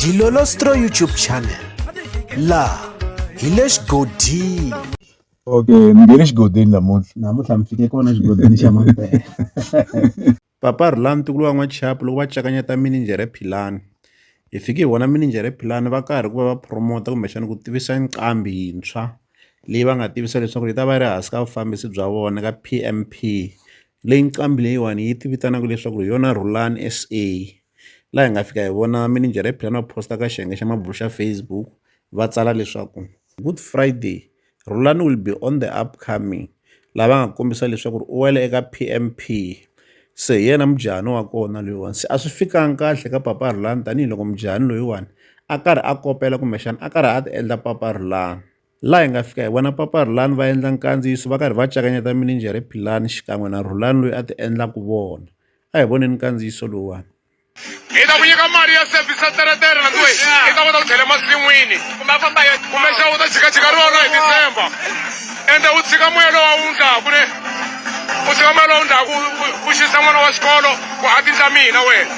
Dilolostro YouTube channel laha hi le xigodini okay ni nge le xigodini namuntlha namuntlha mi fike kona xigodini xa mampela papa rhulani ntukulu wa n'wachapu loko va cakanyeta mininjhere philani hi fike hi vona mininjhere philani va karhi ku va va promota kumbexana ku tivisa nqambi yintshwa leyi va nga tivisa leswaku yi ta va yi ri hansi ka vufambisi bya vona ka PMP Leyi nqambi leyiwani yi ti vitanaka leswaku hi yona Rhulani S_A laha hi nga fika hi vona minijere ya Philani a post-a ka xiyenge xa mabulo xa Facebook va tsala leswaku good Friday Rhulani will be on the upcoming laha va nga kombisa leswaku ri u wela eka P_M_P se hi yena mujahani wa kona loyiwani se a swi fikanga kahle ka papa Rhulani tanihiloko mujahani loyiwani a karhi a kopela kumbexana a karhi a ti endla papa Rhulani. laha hi nga fika hi vona papa Rhulani va endla nkandziyiso va karhi va cakanyeta mininjere Philani xikan'we na Rhulani loyi a ti endlaka vona a hi voneni nkandziyiso lowuwani hi ta ku nyika mali ya sevhisi ya teretere landiwe i ta kota ku tlhela emasin'wini kumbe a famba yo kumexa u ta jikajika rona hi tisemba ende u tshika moya lowa wu ndlaku ne u tshika moya lowa wu ndlaku u xisa n'wana wa xikolo ku a tindla mina wena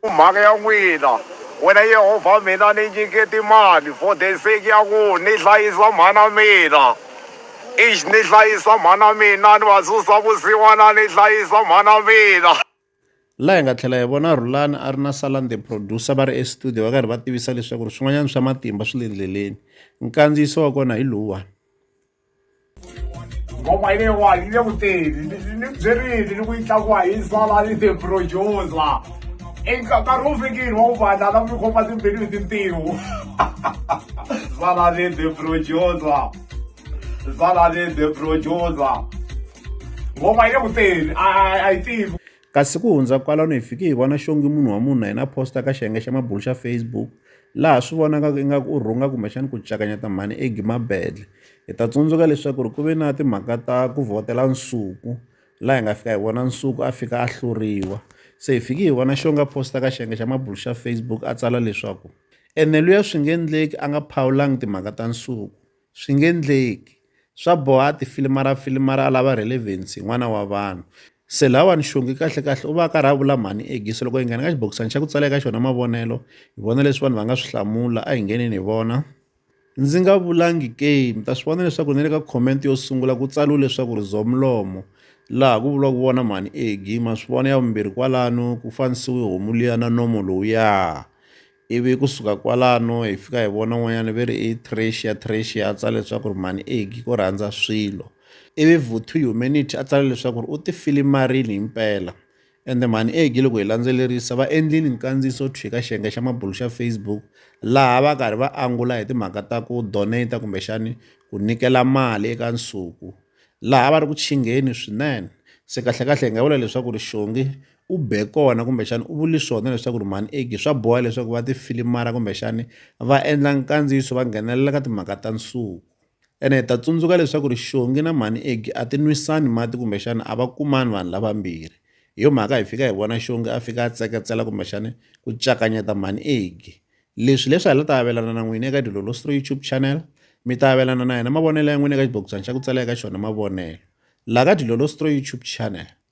Ku mhaka ya n'wina, wena Yehovha, mina ni nyike timali for the sake ya ku ni hlayisa mhana mina. Ixi, ni hlayisa mhana mina, ni va susa vusiwana, ni hlayisa mhana mina. laha hi nga tlhela hi vona rhulani a ri na salan the producer va ri estudio va karhi va tivisa leswaku ri swin'wanyana swa matimba swi le ndleleni nkandziyiso wa kona hi lowuwani ngoma leyiwani yi le ku teni ni byerile ni ku yi tlakuwa hi sala ni the producer nkarhi wu fikile wa ku vanhu lava mi khoma timbilu hi tintiho sala ni the producer sala ni the producer ngoma yi le ku teni a yi tivi Kasi ku hundza kwalano hi fike hi vona xongi munhu wa munhu na yena a posta ka xiyenge xa mabulu xa Facebook laha swi vonakaka ingaku u rhunga kumbexana ku cakanyeta mhani Egi Mabedle. Hi ta tsundzuka leswaku ri ku ve na timhaka ta ku vhotela Nsuku laha hi nga fika hi vona Nsuku a fika a hluriwa se hi fike hi vona xongi a posta ka xiyenge xa mabulu xa Facebook a tsala leswaku ene luya swi nge endleki a nga phawulangi timhaka ta Nsuku. swi nge endleki swa boha tifilima ra filima ra lava relevance hi n'wana wa vanhu se lawani xongi kahle kahle u va a karhi a vula mhani egise loko hi nghena ka xibokisana xa ku tsala eka xona mavonelo hi vona leswi vanhu va nga swi hlamula a hi ngheneni hi vona ndzi nga vulangi ke mi ta swi vona leswaku ni le ka comment yo sungula ku tsaliwe leswaku ri zomlomo laha ku vuriwaka vona mhani egi ma swi vona ya vumbirhi kwalano ku fanisiwe homu liya na nomo lowuya Ivi ku suka kwalano hi fika hi vona un'wanyana ve ri i Trecia Trecia a tsala leswaku ri mhani Egi ko rhandza swilo ivi Vuthu Humanity a tsala leswaku ri u ti filimarini hi mpela ende mhani Egi loko hi landzelerisa va endlini nkandziyiso thwi ka xiyenge xa mabulu xa Facebook laha va karhi va angula hi timhaka ta ku donate kumbexani ku nyikela mali eka nsuku laha va ri ku chingheni swinene se kahlekahle hi nga vula leswaku ri xongi u be kona kumbexana u vuli swona leswaku ri mhani eki swa boha leswaku va tifilimara kumbexani va endla nkandziyiso va nghenelela ka timhaka ta nsuku ene hi ta tsundzuka leswaku ri xongi na mhani eki a ti nwisani mati kumbexana a va kumani vanhu lavambirhi hi yo mhaka hi fika hi vona xongi a fika a tseketsela kumbexani ku cakanyeta mhani eki leswi leswi hi la ta avelana na n'wini eka dilolo stro youtube channel mi ta avelana na yena mavonelo ya n'wina eka xibokisana xa ku tsala eka xona mavonelo laha ka dilolo stro youtube channel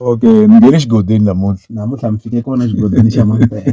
Okay mi nghene xigodini namuntlha. Namuntlha mi fike kona xigodini xa Mampela.